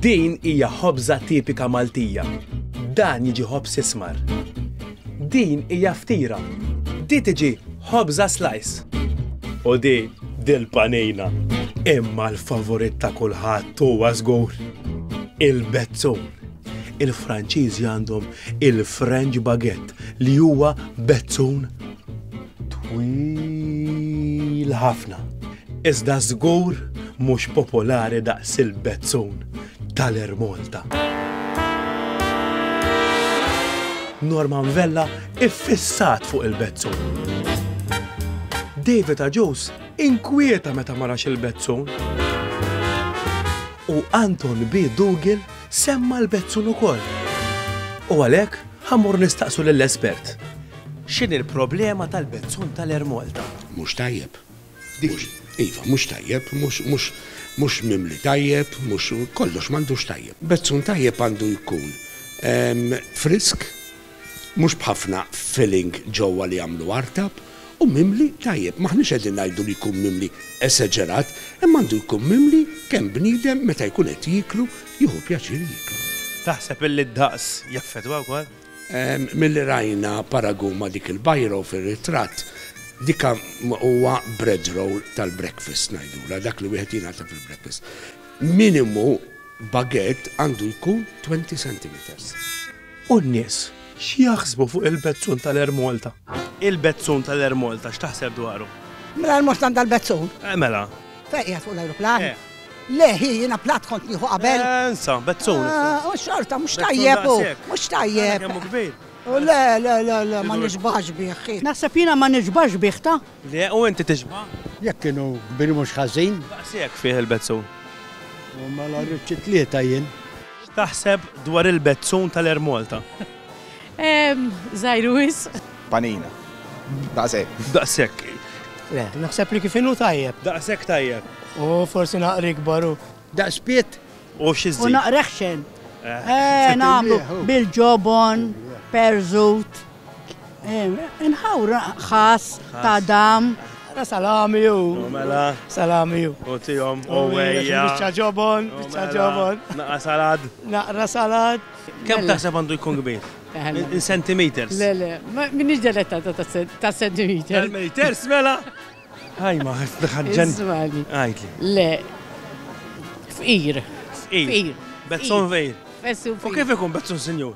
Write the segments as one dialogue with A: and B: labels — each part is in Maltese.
A: Din hija ħobża tipika Maltija. Dan jiġi ħobż ismar. Din hija ftira. Di tiġi ħobża slice. U di dil-panina. Imma l-favorit ta' kulħadd huwa żgur. Il-bezzun. Il-Franċiżi għandhom il-French baguette li huwa bezzun Twil ħafna. Iżda żgur mhux popolari daqs il-bezzun tal-Air Malta. Norman Vella iffissat fuq il-bezzun. David Aġus inkwieta meta marax il-bezzun. U Anton B. Dugil semma l-bezzun ukoll. U għalhekk ħammur nistaqsu lill-espert X'inhi l-problema tal-bezzun tal-Air Malta? Mhux tajjeb.
B: Mhux, iva, mhux tajjeb, mhux, mhux, mhux mimli tajjeb, mhux, kollox m'għandux tajjeb. Bezzun tajjeb għandu jkun frisk, mhux b'ħafna filling ġewwa li jagħmlu artab, u mimli tajjeb. M'aħniex qegħdin ngħidu li jkun mimli esaġerat, imma għandu jkun mimli kemm bniedem meta jkun qed jieklu jieħu pjaċir jieklu. Taħseb illi
A: d-daqs jaffettwa wkoll? Milli
B: rajna paragun ma' dik il-bajro fir-ritratt, dika huwa bread roll tal-breakfast ngħidulha, dak li wieħed jingħata fil-breakfast. Minimu baguette għandu jkun 20 centimetres. U
A: n-nies x'jaħsbu fuq il-bezzun tal-Air Malta? Il-bezzun tal-Air Malta x'taħseb dwaru? Mingħajr mustang
C: dal-bezzun? Mela.
A: Fejn qiegħed fuq
C: l-ajruplan? Le, hi, jiena plat kont nieħu qabel. Ensa, bezzun.
A: U xorta, mhux
C: tajjeb u, mhux tajjeb. Kemm kbir. U
A: le, le, le,
C: le, ma nixbax bih. Naħseb jiena ma nixbax bih ta. Le, u inti tixba?
A: Jekk kienu
D: kbir mhux ħażin. Daqshekk fih il-bezzun.
A: U
D: mela rrid xi tlieta jien. X'taħseb
A: dwar il-bezzun tal-Air Malta? Ehm, żgħir
E: wisq. Panina.
F: Daqshekk. Daqshekk.
A: Le,
G: naħseb li kif inhu tajjeb. Daqshekk tajjeb.
A: U forsi
G: naqra ikbar hu. Daqs pitt.
D: U xi żżid? U
A: naqra ħxen.
C: Eh, nagħmlu bil-ġobon, perżut. Inħawr ħass ta' dam. Salami ju.
G: Mela. Salami
A: ju. U
G: tijom, u
A: għeja. Bicċa ġobon,
G: bicċa ġobon. Naqra salad.
A: Naqra salad.
G: Kemm taħseb għandu
A: jkun kbir? In centimeters? Le, le, minix
E: deletta ta' centimeters. Centimeters, mela?
A: Għaj, ma ħagġan. Zmani. Għajtli.
E: Le, fqir. Fqir. Bezzon
A: fqir. Bezzon fqir. U kif ikun
E: bezzon
A: senjur?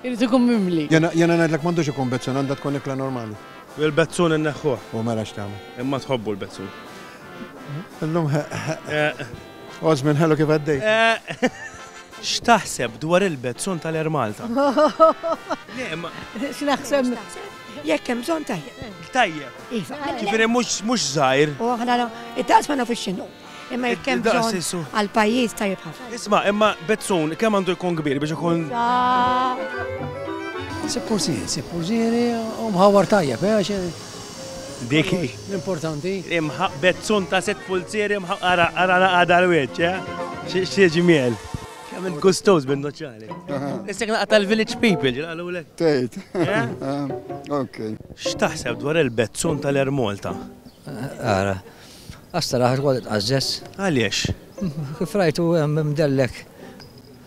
A: Irrid
E: ikun mimli. Jena ngħidlek m'għandux
D: ikun bezzun, għandha tkun ikla normali. Il-bezzun
A: inneħħuh. U mela x'tagħmel.
D: Imma tħobbu l-bezzun. Illum Osman, ħelu kif għaddej? X'taħseb
A: dwar il-bezzun tal-Air Malta?
C: X'naħseb? Jekk hemm bżonn tajjeb. Tajjeb. Iva.
A: Ġifieri
C: mhux mhux
A: żgħir. U aħna
C: it-taqs ma nafux x'inhu. Imma jekk hemm bżonn għal pajjiż tajjeb ħafna. Isma' imma bezzun
A: kemm għandu jkun kbir biex ikun.
G: Sippużieri, sippużieri u mħawwar tajjeb, eh,
A: Dik hi. L-importanti.
G: Imħaq bezzun
A: ta' sitt pulzieri imħaq ara ara naqgħa dal-wiċċ, eh? Xi ġmiel. Kemm int gustoż bin-nuċċali. Issek naqgħa tal-village people ġieli qalulek. Tgħid.
F: Ok. X'taħseb
A: dwar il-bezzun tal-Air Malta? Ara.
H: Għas-saraħ tkoll tqażżeż. Għaliex?
A: Kif rajtu
H: hemm imdellek.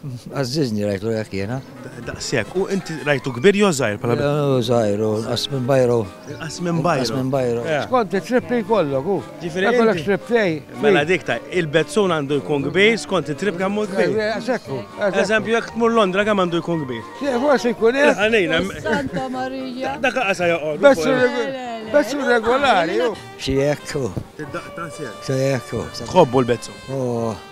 H: Għażżiżni rajtlu hekk jiena. Daqshekk. U
A: inti rajtu kbir jew żgħir bħala bidwi? Hu żgħir, hu nqas
H: minn bajru. Inqas minn bajru. Inqas
A: minn bajru. Skont
H: it-trip li
D: jkollok hu. Ġifieri. Jkollok trip
A: tiegħi.
D: Mela dik ta'
A: il-bezzun għandu jkun kbir skont it-trip kemm hu kbir. Daqshekk hu.
D: Eżempju jekk tmur
A: Londra kemm għandu jkun kbir? Forsi jkun hekk.
D: Ħanejna. Santa
A: Marija.
E: Dak qasa
A: joqgħod. Bezzun
D: regolari hu. Xi hekk hu.
H: Id-daqqa ta' sew. Xi hekk hu. Tħobbu
A: l-bezzun. Hu.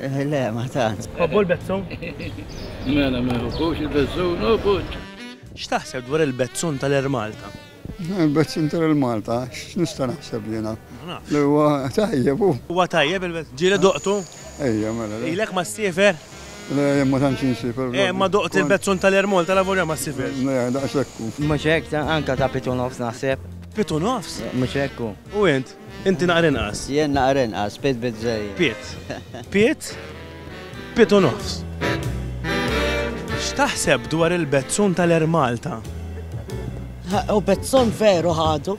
A: Le, ma
I: tantx. Tħobbu l-bezzun?
A: Mela,
J: ma jħobbux il-bezzun, oh putt! X'taħseb dwar
A: il-bezzun ta' l-Air Malta? Il-bezzun
F: ta' l-Air Malta? X'nista' naħseb jiena? Ma nafx. Li huwa tajjeb hu.
A: Huwa tajjeb
F: il-bezzun?
A: Ġieli duqtu?
F: Ejja,
A: mela le. Ilek
F: ma
A: ssiefer? Le,
F: jien ma tantx insifer. Eh, imma duqt il-bezzun
A: ta' l-Air Malta lavolja ma ssiferx. Le, daqshekk hu.
F: Mhux hekk,
I: anke ta' pitt u nofs naħseb. Pitt u nofs?
A: Mhux hekk hu. U
I: int?
A: Inti naqra inqas. Jien naqra inqas, Pitt
K: bizzejjed. Pitt. Pitt,
A: Pitt u nofs. X'taħseb dwar il-bezzun tal-Air
L: Malta?
A: U
L: bezzun veru
A: ħadu.